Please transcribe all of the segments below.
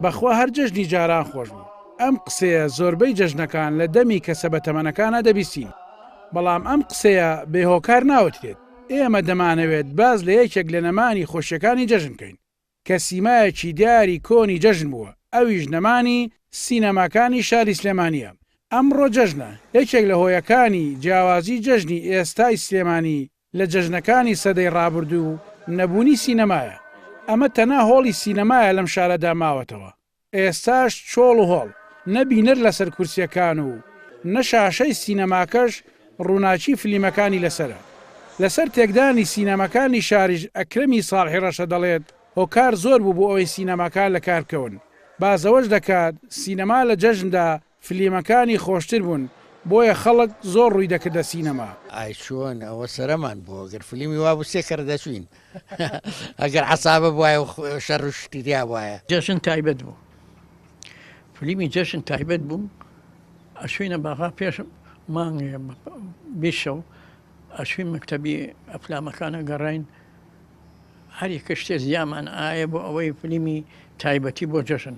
بەخوا هەر جەژنی جاران خۆش بوو. ئەم قسەیە زۆربەی جەژنەکان لە دەمی کەسە بەتەمەنەکانا دەبیستین بەڵام ئەم قسەیە بێ هۆکار ناوترێت ئێمە دەمانەوێت باس لە یەکێک لە نەمانی خۆشیەکانی جەژن کەین کە سیمایەکی دیاری کۆنی جەژن بووە ئەویش نەمانی سینەماکانی شاری سلێمانیە ئەمڕۆ جەژنە یەکێک لە هۆیەکانی جیاوازی جەژنی ئێستای سلێمانی لە جەژنەکانی سەدەی ڕابردوو نەبوونی سینەمایە، ئەمە تەنها هۆڵی سینەمایە لەم شارەدا ماوەتەوە، ئێستاش چۆڵ و هۆڵ، نە بینەر لەسەر کورسیەکان و نە شاشەی سینەماکەش ڕووناکی فلیمەکانی لەسەرە. لەسەر تێکدانی سینەماکانی شاریش ئەکرەمی ساڵحی ڕەشە دەڵێت هۆکار زۆر بوو بۆ ئەوەی سینەماکان لەکار بکەون، باس لەوەش دەکات سینەما لە جەژندا فلیمەکانی خۆشتر بوون بۆیە خەڵک زۆر ڕووی دەکردە سینەما. ئای چۆن ئەوە سەرەمان بۆ گەر فلیمی وابوو سێ کەر دەچوین ئەگەر عەسابە بوایە و شەر و شتی تیا بوایە. جەژن تایبەت بوو فلیمی جەژن تایبەت بوو ئەچوینە باغا پێش مانگێ بیست شەو ئەچوین مەکتەبی ئەفلامەکان ئەگەڕاین هەر یەکە شتێ زیامان ئایە بۆ ئەوەی فلیمی تایبەتی بۆ جەژن.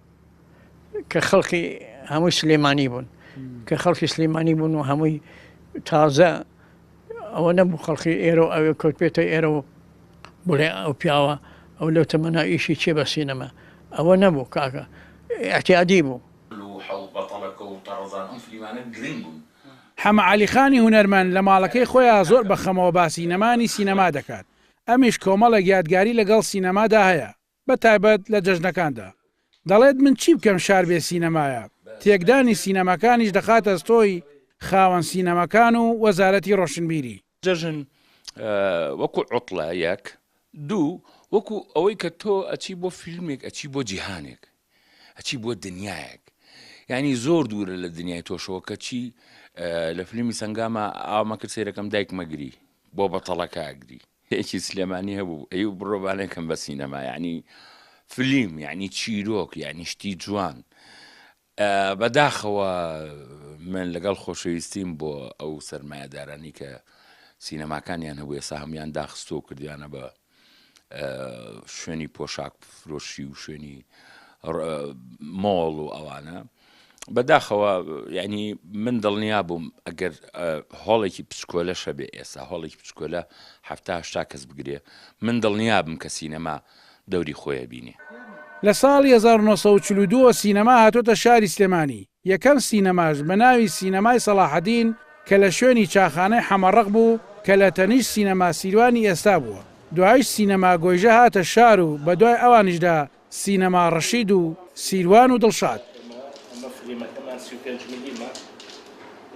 کە خەڵکی هەمووی سلێمانی بوون کە خەڵکی سلێمانی بوون و هەمووی تازە ئەوە نەبوو خەڵکی ئێرە و ئەوێ کەوت پێێتە ئێرە و بڵێ ئەو پیاوە ئەو لەو تەمەنا ئیشی چێ بە سینەما ئەوە نەبوو کاکە ئەتیادی بوو حەمە عەلی خانی هونەرمەند لە ماڵەکەی خۆیان زۆر بە خەمەوە باسی نەمانی سینەما دەکات، ئەمیش کۆمەڵێک یادگاری لەگەڵ سینەمادا هەیە. بە تایبەت لە جەژنەکاندا. دەڵێت من چی بکەم شار بێ سینەمایە، تێکدانی سینەماکانیش دەخاتە ستۆی خاوەن سینەماکان و وەزارەتی ڕۆشنبیری. جەژن وەکو عوتڵە یەک، دوو وەکو ئەوەی کە تۆ ئەچی بۆ فیلمێک ئەچی بۆ جیهانێک. ئەچی بۆ دنیایەک یانی زۆر دوورە لە دنیای تۆشەوە کەچی لە فلیمی سەنگامە ئاما کرد سێرەکەم دایک مەگری بۆ بەتەڵەکە ئەگری هێکی سلێمانی هەبوو ئەی بڕۆبانێکم بە سینەما یعنی فلیم یعنی چیرۆک یعنی شتی جوان بەداخەوە من لەگەڵ خۆشەویستیم بۆ ئەو سەرمایەدارانی کە سینەماکانیان هەبوو ێسا هەموان داخستۆ کردویانە بە شوێنی پۆشاک فرۆشی و شوێنی مۆڵ و ئەوانە بەداخەوە ینی من دڵنیا بووم ئەگەر هۆڵێکی پچکۆلە شەبێ ئێستا هۆڵێکی پچکۆلە هەفتاهشتا کەس بگرێ من دڵنیا بم کە سینەما دەوری خۆیە بینێ لە ساڵی 1942 سینەما هاتۆتە شاری سلێمانی یەکەم سینەماش بە ناوی سینەمای سەڵاحەدین کە لە شوێنی چاخانەی حەمەڕەق بوو کە لە تەنیشت سینەما سیروانی ئێستا بووە. دوایش سینەما گۆیژە هاتە شار و بە دوای ئەوانیشدا سینەما ڕەشید و سیروان و دڵشاد.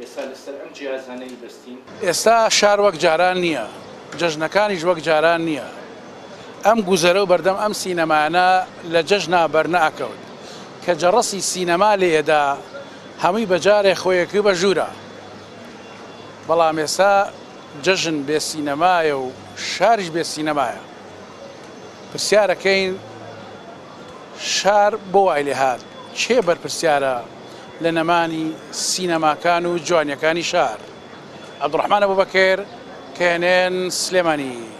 ئێستا لەسەر ئەم جیازانە ی بەستین. ئێستا شار وەک جاران نییە، جەژنەکانیش وەک جاران نییە. ئەم گوزەرە و بەردەم ئەم سینەمایانە لە جەژنا بەرنەئەکەون. کە جەڕەسی سینەما لێ ئەدا، هەمووی بە جارێ خۆی ئەکرد بە ژوورا. بەڵام ئێستا جەژن بێ سینەمایە و شاریش بێ سینەمایە. پرسیارەکەین شار بۆ وای لێ هات؟ کێ بەرپرسیارە لە نەمانی سینەماکان و جوانیەکانی شار عبدالرحمن ابوبکر کهنێن سلێمانی.